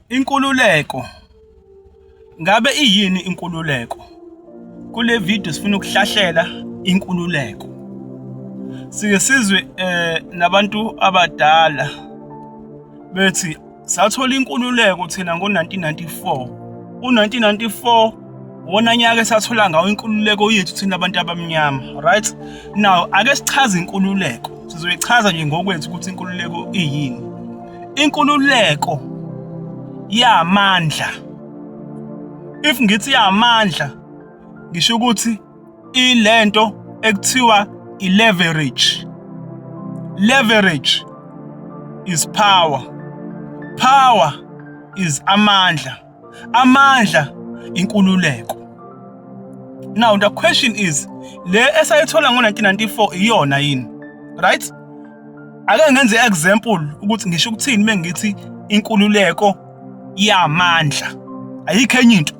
Inkululeko. Ngabe iyini inkululeko? Kule video sifuna ukuhlahlela inkululeko. Sike sizwe eh nabantu abadala bethi sathola inkululeko thina ngo-1994 u-1994 wona nyaka esathola ngawo inkululeko yethu thina abantu abamnyama right now ake sichaze inkululeko sizoyichaza nje ngokwethu ukuthi inkululeko iyini inkululeko yamandla if ngithi yamandla ngisho ukuthi ilento ekuthiwa i-leverage leverage is power power is amandla amandla inkululeko now the question is le esayithola ngo-1994 iyona yini right ake ngenze example ukuthi ngisho ukuthini mengithi inkululeko yamandla ayikho enye into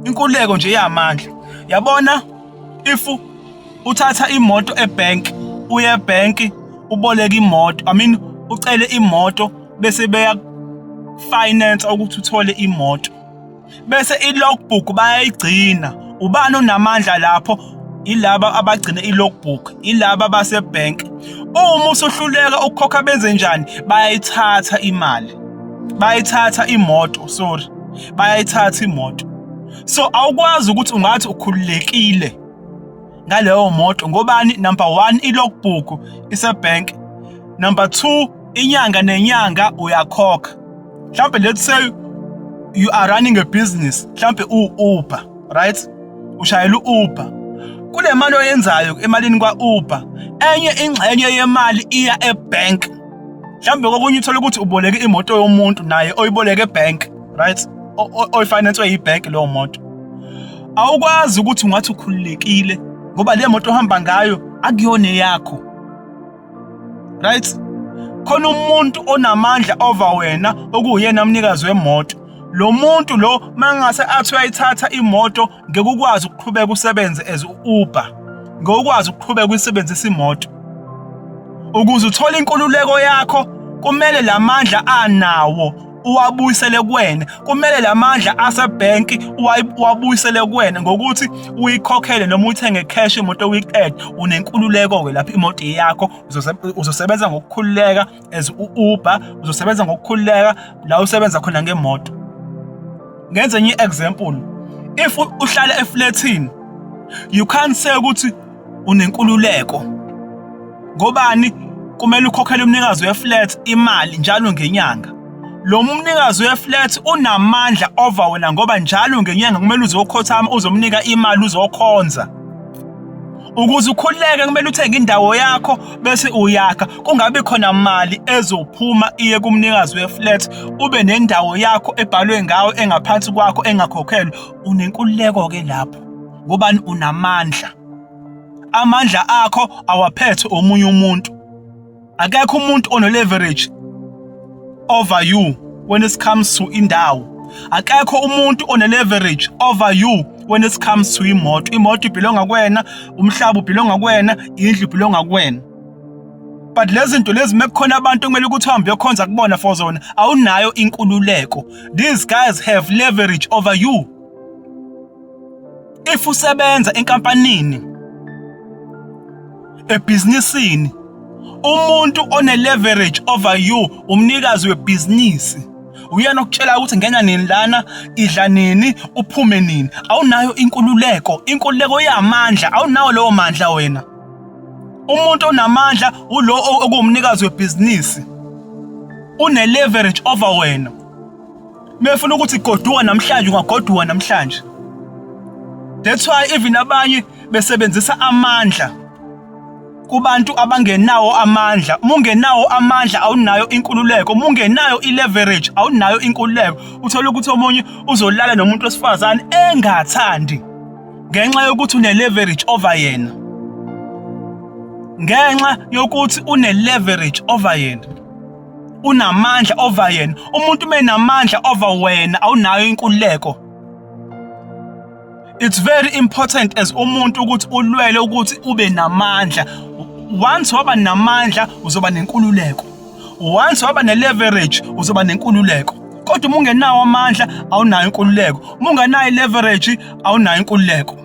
inkululeko nje yamandla yabona if uthatha imoto ebank uye ebank uboleka imoto i mean ucele imoto bese beya finance ukuthi uthole imoto bese i-logbook bayayigcina ubani onamandla lapho ilaba abagcina i-logbook ilaba basebank uma usuhluleka ukukhokha benze njani bayayithatha imali bayayithatha imoto sorry bayayithatha imoto so awukwazi ukuthi ungathi ukhululekile ngaleyo moto ngobani number 1 i-logbook isebank number 2 inyanga nenyanga uyakhokha mhlawumbe let's say you are running a business mhlawumbe u-uber right ushayela u-uber kule mali oyenzayo emalini kwa-uber enye ingxenye yemali iya ebank mhlawumbe kokunye uthole ukuthi uboleke imoto yomuntu naye oyiboleke ebank right oyifinance yibank leyo moto awukwazi ukuthi ungathi ukhululekile ngoba le moto ohamba ngayo akuyona eyakho right khona umuntu onamandla over wena okuyena umnikazi wemoto lo muntu lo mangase athi uyayithatha imoto ngekukwazi ukuqhubeka usebenze as Uber ngokwazi ukuqhubeka uyisebenzisa imoto ukuze uthole inkululeko yakho kumele lamandla anawo uwabuyisele kuwena kumele lamandla asebank uwabuyisele kuwena ngokuthi uyikhokhele noma uthenge cash imoto weekend unenkululeko ke lapha imoto yakho uzosebenza ngokukhululeka as uUber uzosebenza ngokukhululeka la usebenza khona ngemoto ngenze enye example if uhlala eflatini you can't say ukuthi unenkululeko ngobani kumele ukhokhele umnikazi weflat imali njalo ngenyanga lo mnikazi weflat unamandla over wena ngoba njalo ngenyanga kumele uzokhothama uzomnika imali uzokhonza ukuze ukhululeke kumele uthenge indawo yakho bese uyakha kungabi khona mali ezophuma iye kumnikazi weflat ube nendawo yakho ebhalwe ngawe engaphansi kwakho engakhokhelwa unenkululeko ke lapho ngobani unamandla amandla akho awaphethe omunye umuntu akekho umuntu ono leverage over you when it comes to indawo akekho umuntu one leverage over you when it comes to imoto imoto ibhilonga kuwena umhlaba ubhilonga kuwena indlu ibhilonga kuwena but lezi zinto lezi mekukhona abantu okumele ukuthi uhambe uyokhonza kubona for zona awunayo inkululeko these guys have leverage over you if usebenza enkampanini ebhizinisini umuntu one leverage over you umnikazi webhizinisi uyena okutshela ukuthi ngena nini lana idla nini uphume nini awunayo inkululeko inkululeko yamandla awunawo lowo mandla wena umuntu onamandla ulo okuwumnikazi webhizinisi une leverage over wena mefuna ukuthi goduka namhlanje ungagoduka namhlanje that's why even abanye besebenzisa amandla kubantu abangenawo amandla uma ungenawo amandla awunayo inkululeko uma ungenayo i-leverage awunayo inkululeko uthole ukuthi omunye uzolala nomuntu wesifazane engathandi ngenxa yokuthi une-leverage over yena ngenxa yokuthi une-leverage over yena unamandla over yena umuntu menamandla over wena awunayo inkululeko it's very important as umuntu ukuthi ulwele ukuthi ube namandla once waba namandla uzoba nenkululeko once waba ne-leverage uzoba nenkululeko kodwa uma ungenawo amandla awunayo inkululeko uma ungenayo i-leverage awunayo inkululeko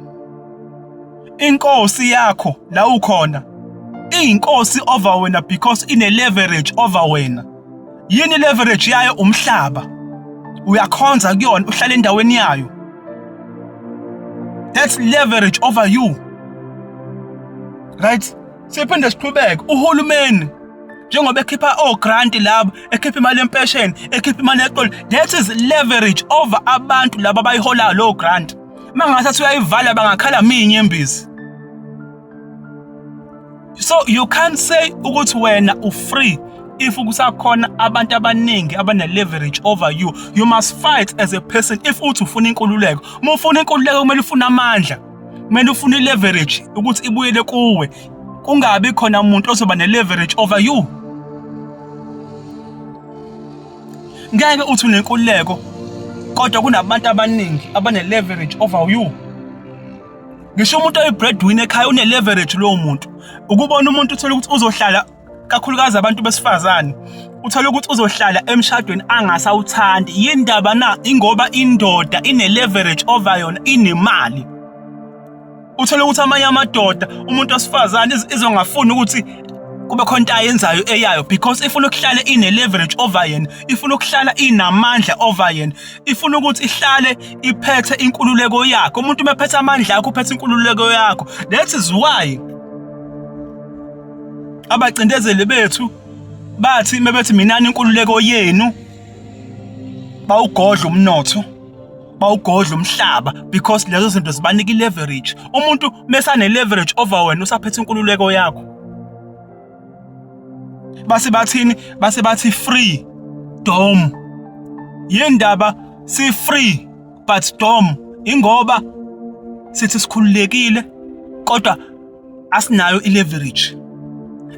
inkosi yakho la ukhona iyinkosi over wena because ine leverage over wena yini leverage yayo umhlaba uyakhonza kuyona uhlala endaweni yayo that's leverage over you right siphinde siqhubeke uhulumeni njengoba ekhipha ogrant labo ekhipha imali yempesheni ekhipha imali yeqolo that is leverage over abantu laba abayiholayo lowo grant uma ngingasathi uyayivala bangakhala miyinyembezi so you can't say ukuthi wena ufree if kusakhona abantu abaningi abane-leverage over you you must fight as a person if uthi ufuna inkululeko uma ufuna inkululeko kumele ufune amandla kumele ufune i-leverage ukuthi ibuyele kuwe kungabi khona umuntu ozoba ne-leverage over you Ngeke uthi unenkululeko kodwa kunabantu abaningi abane leverage over you. Ngisho umuntu oyibreadwinner ekhaya une leverage lowo muntu. Ukubona umuntu uthola ukuthi uzohlala kakhulukazi abantu besifazane uthola ukuthi uzohlala emshadweni angasawuthandi yindaba na ingoba indoda ine leverage over yona inemali uthole ukuthi amanye amadoda umuntu osifazane izongafuni ukuthi kube khona into ayenzayo eyayo because ifuna ukuhlala ine-leverage over yena ifuna ukuhlala inamandla over yena ifuna ukuthi ihlale iphethe inkululeko yakho umuntu uma ephethe amandla akho uphethe inkululeko yakho that is why abacindezeli bethu bathi mebethi minani inkululeko yenu bawugodla umnotho bawugodla umhlaba because lezo zinto zibanika i-leverage umuntu mesane-leverage over wena usaphethe inkululeko yakho base bathini base bathi free dom yendaba si free but dom ingoba sithi sikhululekile kodwa asinayo i-leverage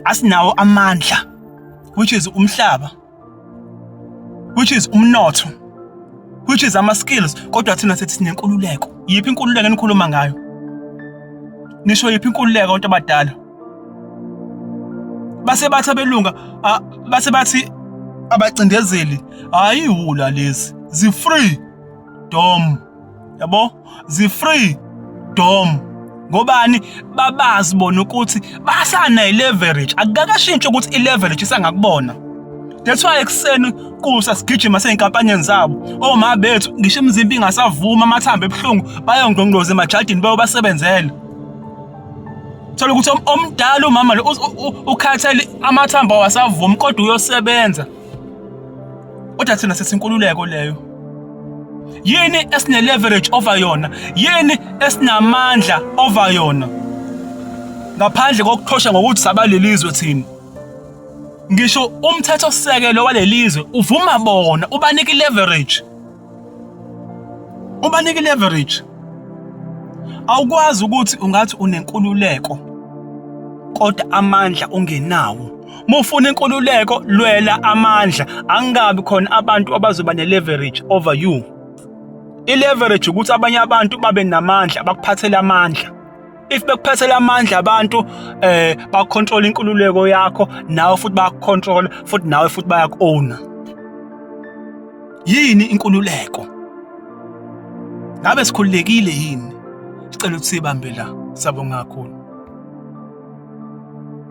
asinawo amandla which is umhlaba which is umnotho which is ama skills kodwa thina sethi sinenkululeko yiphi inkululeko enikhuluma ngayo nisho yiphi inkululeko abantu abadala base bathi abelunga base bathi abacindezeli hayi wula lezi zifree dom yabo zi-free dom ngobani babazi bona ukuthi basana i-leverage akukakashintshi ukuthi i-leverage isangakubona that's why ekuseni kusa sigijima sey'nkampanini zabo oma oh, bethu ngisho imizimba ingasavumi amathambo ebuhlungu bayongqongqoza emajadini bayobasebenzela thola ukuthi omdala umama lo ukhathele amathambo awasavumi kodwa uyosebenza kodwa thina sesinkululeko leyo yini esine-leverage over yona yini esinamandla over yona ngaphandle kokuthosha ngokuthi sabalelizwe thina ngisho umthetho sisekelo walelizwe uvuma bona ubanika i-leverage ubanike leverage awukwazi ukuthi ungathi unenkululeko kodwa amandla ungenawo mufuna inkululeko lwela amandla angabi khona abantu abazoba ne-leverage over you i-leverage ukuthi abanye abantu babe namandla bakuphathele amandla if bekuphethela amandla abantu eh ba control inkululeko yakho nawe futhi ba control futhi nawe futhi bayaku owner yini inkululeko ngabe sikhululekile yini sicela ukuthi sibambe la sabonga kakhulu